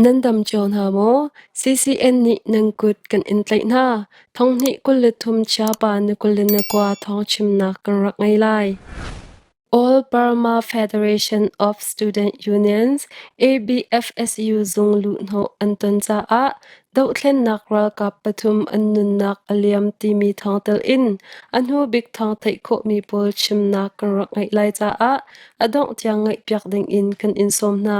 Nan dam cio hna maw? CCN nih nan kut kan in tlaih hna. Thonghnih kul le thum chiapa na kul le na kua thawng chimnak kan rak ngei lai. All Burma Federation of Student Unions ABFSU zung luhhnawh an ton caah dohthlennak ralkap pathum an nunnak a liam timi thawng telin a hnu bik thawng theih khawhmi pawl chimnak kan rak ngeih lai caah a dongh tiang ngaihpiak dingin kan in sawm hna.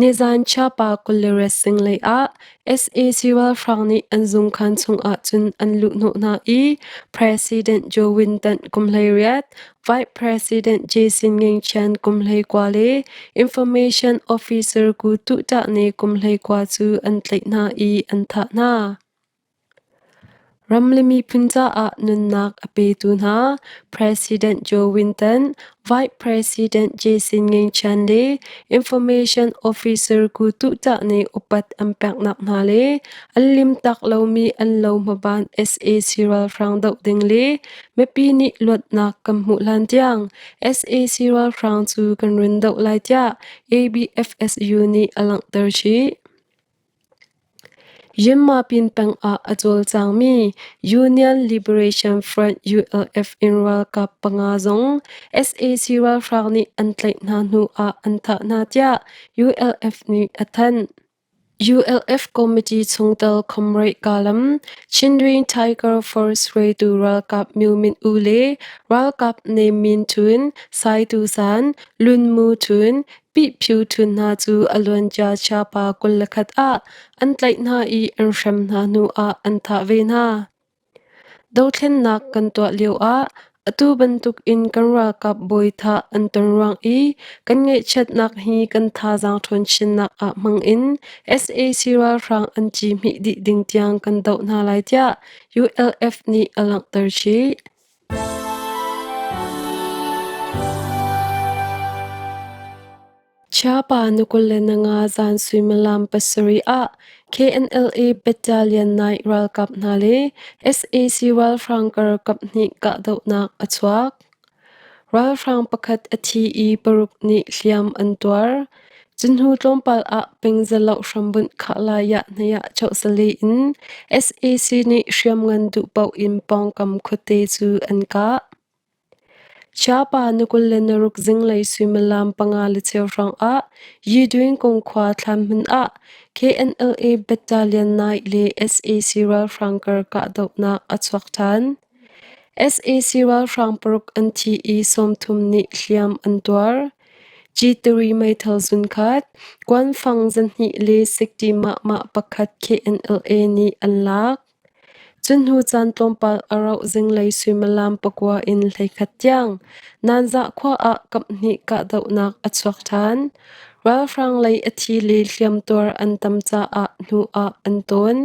Nizan Chiapa kul le ret sing lei ah sac ralhrang nih an zungkhan chungah cun an luhhnawh hna i President Joe Winton kum hleiriat, Vice President Jason Ngengchian kum hleikua le Information Officer Gu Tuh Tah Ne kum hleikua cu an tlaih hna i an thah hna. Ram le miphun caah nunnak a petu hna President Joe Winton, Vice President Jason Ngeichia le Information Officer Ku Tuh Tah nih upat an peknak hna le an limtak lomi an lo hmaban sac ralhrang doh ding le mipi nih luatnak kan hmuh hlan tiang sac ralhrang cu kan run doh lai tiah ABFSU nih a langhter chih. Yinmapin pengah a cawlcangmi Union Liberation Front ULF in ralkap panga zong sac ralhrang nih an tlaih hna hnu ah an thah hna tiah ULF nih a thanh. ULF committee chungtel comrade Kalam, Chindrin Tiger Force hruaitu ralkap Myu Min Oo le ralkap name min thun Sai Tu San, Lun Mu thun, Pihphu ṭhu hna cu a luancia chiapa kul le khat ah an tlaih hna i an hrem hna hnu ah an thah ve hna. Dothlennak kan tuah lioah atu bantuk in kan ralkap bawi thah an ton ruang i kan ngaihchiatnak hi kan thazaang ṭhawn chinnak ah hmang in sac ralhrang an ci hmih dih ding tiang kan doh hna lai tiah ULF nih a langhter chih. Chiapa Nukulenanga zan suimilam pasarih ah KNLA Battalion 9 ralkap hna le sac ralhrang karkap nih kahdohnak a chuak. Ralhrang pakhat a thi i paruk nih hliam an tuar. Cunhnu tlawmpal ah pingzaloh hrambunh khah laiah hniah chohsali in sac nih hriamngan duh paoh in pawngkam khuate cu an kah. Chiapa na kul le na ruk zinglei suimilam panga le cheu hrawngah Yidwin kungkhua thlanhmun ah KNLA Battalion 9 le sac ralhrang kar kahdohnak a chuak ṭhan. sac ralhrang paruk an thi i sawmthum nih hliam an tuar. Citiri meithal zunkhat, kuanfang zanhnih le sikṭi mahmah pakhat KNLA nih an lak. Cunhnu caan tlawmpal a rauh zinglei suimilam pakua in hleikhat tiang Nanzah khua ah kaphnih kahdohnak a chuak ṭhan. Ralhrang lei a thi le hliamtuar an tam caah hnu ah an tawn.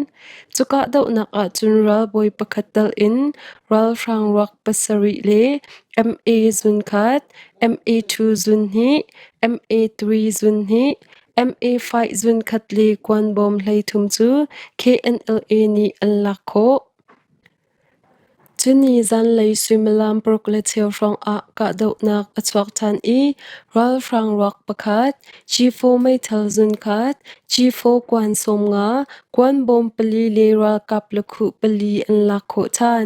Cu kahdohnak ahcun ralbawi pakhat tal in ralhrang ruak pasarih le MA zunkhat, MA2 zun hi MA3 zun hi MA5 zun khat le kuan bawm hleithum cu KNLA nih an lak khawh. Cuni zanlei suimilam paruk le cheu hrawng ah kahdohnak a chuak ṭhan i ralhrang ruak pakhat, G4 meithal zun khat, G4 kuan sawm nga, kuan bawm pali le ralkap lakhuh pali an lak khawh ṭhan.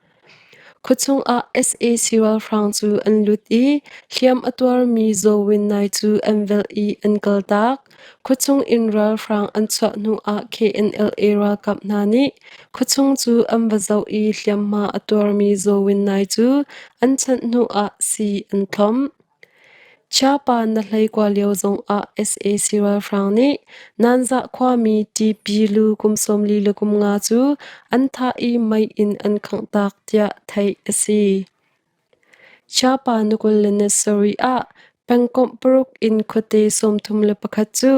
Khuachung ah sac ralhrang cu an lut i hliam a tuarmi Zawin nai cu an velh i an kaltak. Khuachung in ralhrang an chuah hnu ah KNLA ralkap hna nih khuachung cu an va zoh i hliamhma a tuarmi Zawin nai cu an chanh hnu ah sii an thlawmh. Chiapa na hleikua lio zongah sac ralhrang nih Nanzah khuami TP lu kum sawm li le kum nga cu an thah i mei in an khangh taak tiah theih a si. Chiapa na kul le na sarih ah pengkomh paruk in khuate sawmthum le pakhat cu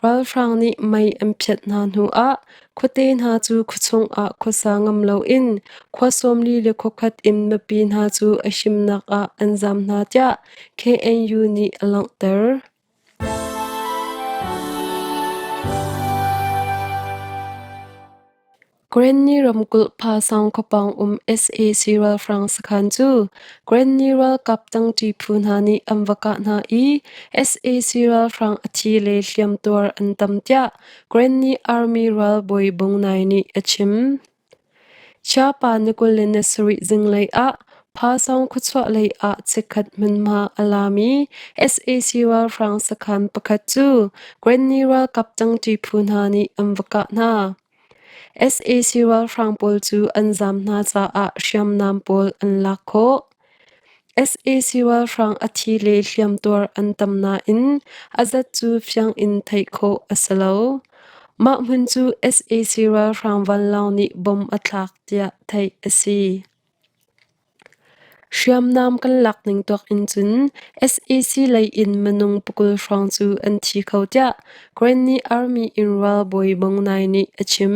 ralhrang nih mei an phiat hna hnuah Khuate hna cu khuachung ah khuasa ngam loin khua sawmli le khuakhat in mipi hna cu a himnak ah an zam hna tiah KNU nih a langhter. Granny ramkulh Phasang khawpang um sac ralhrang sakhan cu Granny ralkap tangṭi phu hna nih an va kah hna i sac ralhrang a thi le hliamtuar an tam tiah Granny Army ralbawi Bung Nai nih a chim. Chiapa na kul le na sarih zinglei ah Phasawng khuachuah lei ah chikkhat hmunhma a lami sac ralhrang sakhan pakhat cu Granny ralkap cangṭi phu hna nih an va kah hna. sac ralhrang pawl cu an zam hna caah hriamnam pawl an lak khawh. sac ralhrang a thi le hliamtuar an tam nain a zat cu fiang in theih khawh a si lo. Mah hmun cu sac ralhrang vanlawng nih bom a thlak tiah theih a si. Hriamnam kan lak ning tuak in cun sac lei in minung pakul hrawng cu an thi kho tiah Granny Army in ralbawi Bong Nai nih a chim.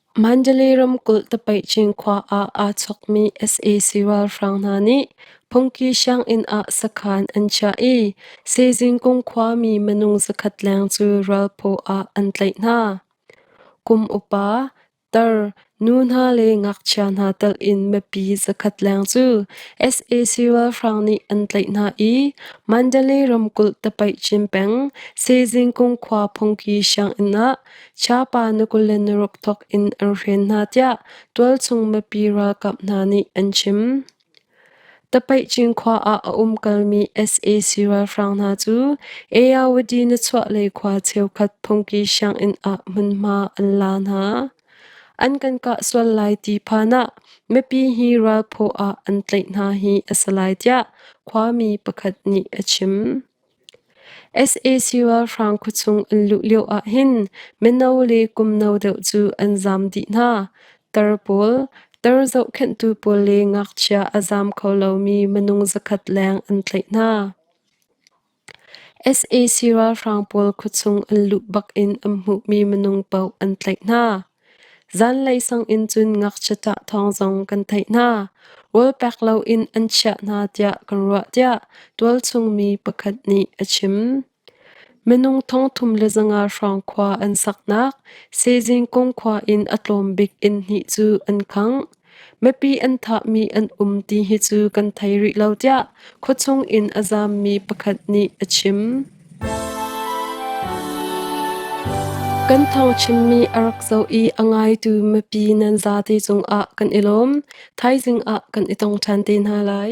Mandalay ramkulh Tapaih Cinkhua ah aa chawkmi sac ralhrang hna nih phungki sianginn ah sakhan an chiah i Sezingkung khuami minung zakhat leng cu ralphaw ah an tlaih hna. Kum upa, tar, nu hna le ngakchia hna telh in mipi zakhat leng cu sac ralhrang nih an tlaih hna i Mandalay ramkulh Tapaih Chin peng Sezingkung khua phungki sianginn ah Chiapa na kul le na ruk thawk in an hren hna tiah tualchung mipi ralkap hna nih an chim. Tapaihcing khua ah a um kalmi sac ralhrang hna cu Eyawadi na chuahlei khua cheukhat phungki sianginn ah hmunhma an la hna. An kan kah sual lai ti phan ah mipi hi ralphaw ah an tlaih hna hi a si lai tiah khuami pakhat nih a chim. sac ralhrang khuachung an luh lioah hin mino le kum no deuh cu an zam dih hna. Tar pawl, tar zohkhenhtu pawl le ngakchia a zam kho lomi minung zakhat leng an tlaih hna. sac ralhrang pawl khuachung an luh bakin an hmuhmi minung paoh an tlaih hna. Zanlei sanginn cun ngakchiat ah thawng zong kan theih hna. Wolpek loin an chiah hna tiah kan ruah tiah tualchungmi pakhat nih a chim. Minung thongthum le zanga hrawng khua an saknak Sezing kung khua in a tlawm bik inn hnih cu an khangh. Mipi an thahmi an um ti hi cu kan thei rih lo tiah khuachung in a zaammi pakhat nih a chim. Kan tho chimmi a rak zoh i a ngaitu mipi nan za te cungah kan i lawm. Thaizing ah kan i tong ṭhan te hna lai.